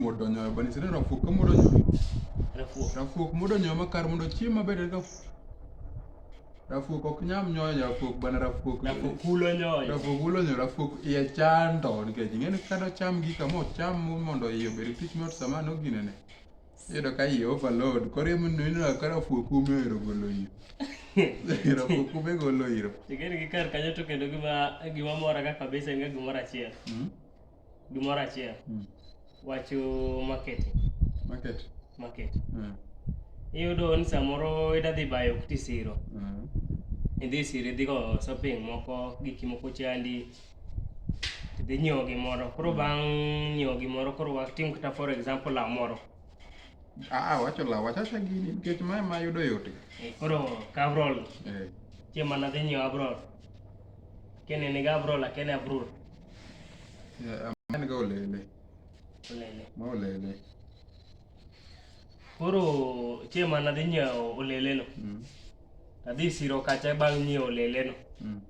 modo nyoyo bani sire rafuok ka modo nyoyo rafuok rafuok modo nyoyo makar mondo chiemo maber ka rafuok ok nyam nyoyo rafuok bana rafuok rafuok kulo nyoyo rafuok kulo nyoyo rafuok iye chando nikech ing'eni kado cham gi kamo cham mondo iye obed tich mot sama noginene Iyudo ka iye overload. Koro emomiyo ineno ka rafuo kume ohero golo iro. Rafuo kume golo iro. Igeno gi kar kanyo to kendo gima gima mora ga kabisa en ga gimoro achiel. Mm. Gimoro achiel. Mm. Wacho market. Market. Market. Mm. Iyudo ni samoro ida dhi bayo kuti siro. Mm. Idhi siro idhi go shopping moko giki moko chandi. dhi nyiewo gimoro koro mm. bang' nyiewo gimoro koro watim kata for example law moro ah, wacho law wachacha gini nikech ma ma yudo yote eh, koro kabrol eh. chieng' mana dhi nyiewo abrol kene ni gabrol akene abrol eh, en ga olele olele ma olele Koro chiema nadhi nyiewo oleleno. Mm. Adhi siro kacha bang' nyiewo oleleno. Mm.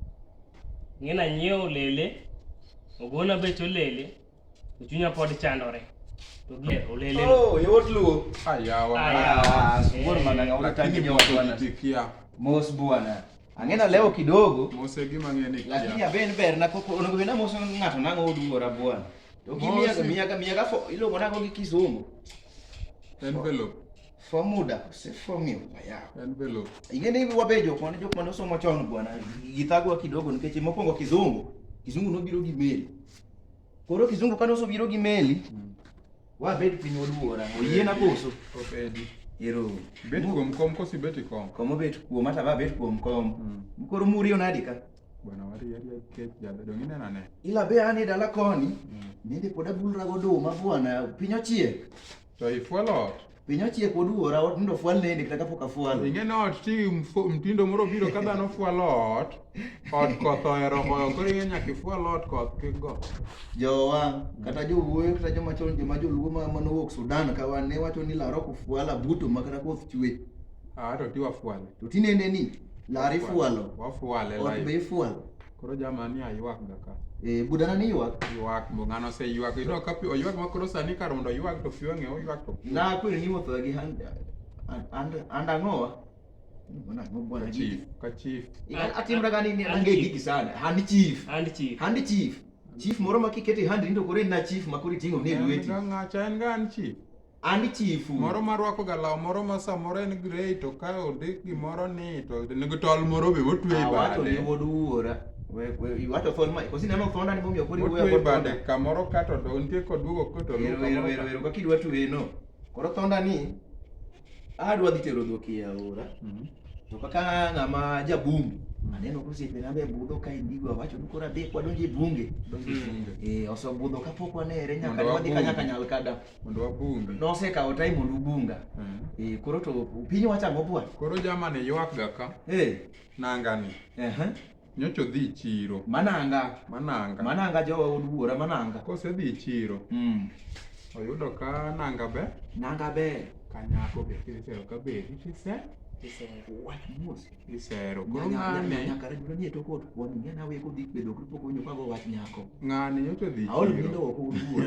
Ng'ina nyiewo olele, ogona bech olele, to chunya pod chandore. To gi olele. Oh, yot luo. Ayawa. Ayawa. Sikuwa mana ngaona tangi nyoka bwana. Tikia. Mos bwana. Ang'ina leo kidogo. Mose gima ng'ene kia. Lakini aben ber na koko onogo bena moso ng'ato nang'o oduora bwana. Ukimiaka miaka miaka for ilo mwana kongi kizungu. Envelope. For muda se for mi ya. Envelope. Ingene hivi wabejo kwa ndio kwa somo chao bwana. Githagwa kidogo nikeche mokongo kizungu. Kizungu no biro gi meli. Koro kizungu kano so biro gi meli. Mm. Wa bed piny oluora. Oyie na koso. Obedi. Ero. Bet kuom kom kosi bet kom. Kom obet kuom ata ba bet kuom kom. Mm. Koro muri onadika. Bwana wari yari kech jada dongi nena ne. Ila be ane dala koni. Mm. Nende pod abulra go duma bwana piny ochiek. To ifuelo ot. Piny ochiek oduora ot ndo fuel nende kata kapok afuel. Inge no ot ti mtindo moro biro ka dhano fuelo ot. Ot koth ohero goyo koro inge nyaka ifuel ot koth kik go. Jowa kata jowuoyo kata joma chon joma joluo ma manowuok Sudan ka wan ne wacho ni laro kufuala buto makata koth chwe. Ah to tiwa fuel. To tinende ni Lari fualo. Wafuale live. Ot be ifualo. Koro jamani aywak ga ka. Eh, budana ni ywak. Ywak bo ngano se ywak. Ino ka pi oywak ma koro sani kar mondo ywak to fiwa ng'e oywak to. Na kwiri ni wuotho gi hand and and ang'owa. Mbona ngo bwana chief. Ka chief. Atimra gani ni ange gigi sana. Hand chief. Hand chief. Hand chief. Chief moro makikete hand ndo kore na chief makuri tingo ne lweti. Ng'acha en gan chief. An chifu. Moro ma rwako ga law moro ma samoro en grey to ka ondik gimoro ni to nigi tol moro be motwe e bade. Awacho ni wuod wuora. Iwacho thon ma kosi nema thon ani momiyo kodi wuoyo kod bade kamoro ka to do nitie kod duogo ko to luwo. Wero wero wero kaka idwa tuwe no. Koro thonda ni adwa dhi tero dhok e aora. Mhm. To kaka ng'ama jabungu mhm. aneno kosiepe na be budho ka indigo awacho ni koro adhi kwadonje bunge. Donje bunge. Eh osebudho kapok wanere nyaka wadhi kanyakanyal kada. mondo wabungi. Nosekawo time mondo ubunga. Mm. Eh, koro to piny wacha go bwa. Koro jama ne ywak ga ka. Eh, nanga ni. Eh. Uh -huh. Nyocho dhi chiro. Mananga. Mananga. Mananga jowa od wuora mananga. Kose dhi chiro. Mm. Oyudo ka nanga be. Nanga be. Kanyako be kisero ka be. Kisero. Kisero. What mosi. isero koro ng'ani nyaka rejno nie to kod kwani ng'ani awe kodhi kwedo kri pok winjo kago wach nyako ng'ani nyoto dhi aol mindo ok uduwa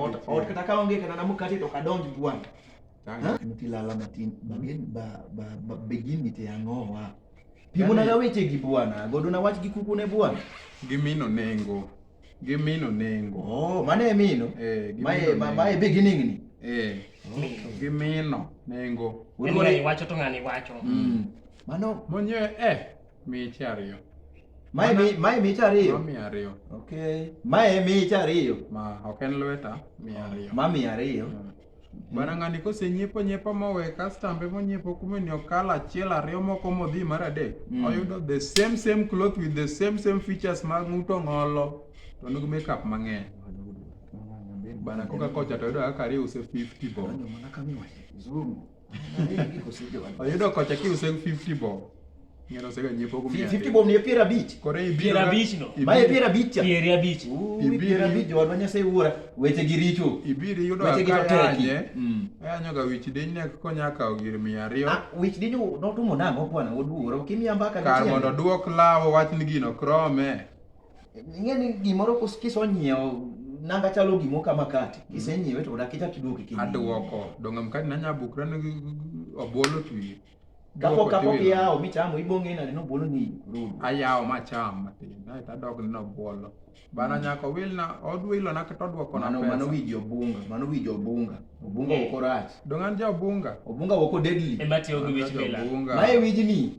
ot ot kata ka onge kata namu kati to kadonj gwan ti lala matin bagen ba ba ba begin ni te angowa pimo na weche gi bwana godo na wach gi kuku ne bwana gimino nengo Gi mino nengo. Oh, mane e mino? Eh, gi Mae mino ma nengo. mae beginning ni. Eh, gi mino nengo. En ng'ani wacho to ng'ani wacho. Mm. Mano Monye eh miche ariyo. mae mi mae mita Ma ariyo. mia ariyo. Okay. Mae mita ariyo. Ma ok en lweta mia ariyo. Ma mia ariyo. Mm. Bana ng'ani kosenyiepo nyiepo mowe kastambe monyiepo kume ni okalo achiel ariyo moko modhi mar adek mm. oyudo the same same cloth with the same same features mag ng'uto ng'olo to nigi makeup mang'eny bana koka kocha to yudo kaka ariyo use 50 bob Oyudo kocha kiuse 50 bob. Ng'ero osega nyiepo kuom 50 bob ni piero abich. Koro ibiro. Piero abich no. Ma e piero abich cha. Piero abich. Ibiro piero abich jowa Nyasaye wuora. Weche gi richo. Ibiro yudo akayanye. Mm. Ayanyo ga wich diny ne konya kawo gir 200. Ah, wich diny notumo nang'o bwana oduoro. Kimiya mbaka. Kar mondo duok lawo wach ni gino krome. Ing'e ni gimoro kisonyiewo nanga chalo gimo ka makati mm. kisenyiewe to odak ichak iduoki kiny aduoko donga mkati nanya bukra ni obolo tu kapok kapok iyawo michamo ibong'e nade ni obolo ni rudu ayawo macham matin ae to adok ni obolo bana mm. nyako wilna odwilo na kata odwoko na pesa mano wiji obunga mano wiji obunga obunga eh. woko rach dongan ja obunga obunga woko deadly ema tiyo gi wich bila mae wiji ni